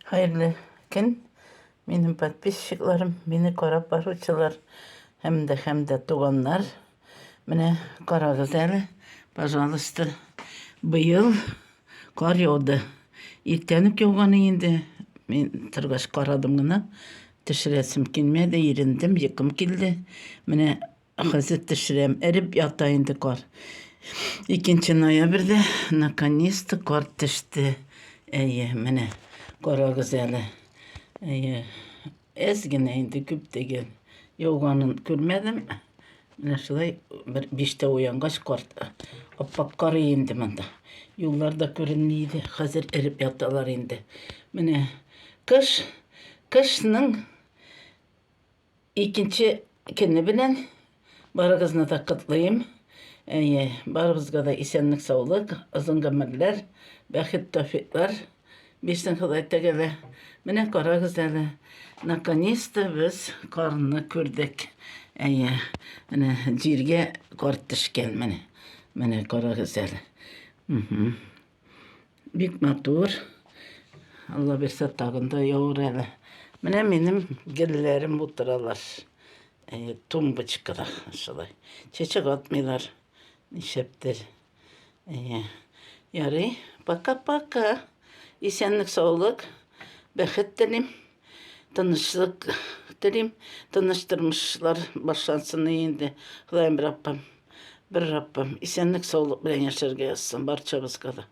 Хәерле көн, минем подписчикларым, мине карап баручылар һәм дә һәм дә туганнар. Менә карагыз әле, пожалуйста, быел кар яуды. Иртән үк яуган инде. Мин торгач карадым гына, төшерәсем килмәде, ирендем, йокым килде. Менә Хәзер төшерәм. Эреп ята инде кар. Икенче ноябрьдә наконец-то кар төште. Әйе, менә карагыз әле. Әйе, әз генә инде күп түгел. Яуганын күрмәдем. Менә шулай бер биштә уянгач кар аппак кары инде монда. Юллар да күренми иде. Хәзер эреп яталар инде. Менә кыш, кышның Икенче көне белән барыгызны да котлыйм. Әйе, барыбызга да исәнлек-саулык, озын гомерләр, бәхет-тәүфиклар бирсен Ходай Тәгалә. Менә карагыз әле, наконец-то без карны күрдек. Әйе, менә җиргә кар төшкән, менә. Менә карагыз әле. Бик матур. Алла берсә тагын да явыр әле. Менә минем гелләрем утыралар. Ә, тумбочкада шулай. Чәчәк атмыйлар. Нишләптер. Ә, ярый. Пока-пока. Исәнлек, саулык. Бәхет телим. Тынычлык телим, тыныч тормышлар башлансын инде. Ходаем Раббым, бер Раббым, исәнлек, саулык белән яшәргә язсын барчабызга да.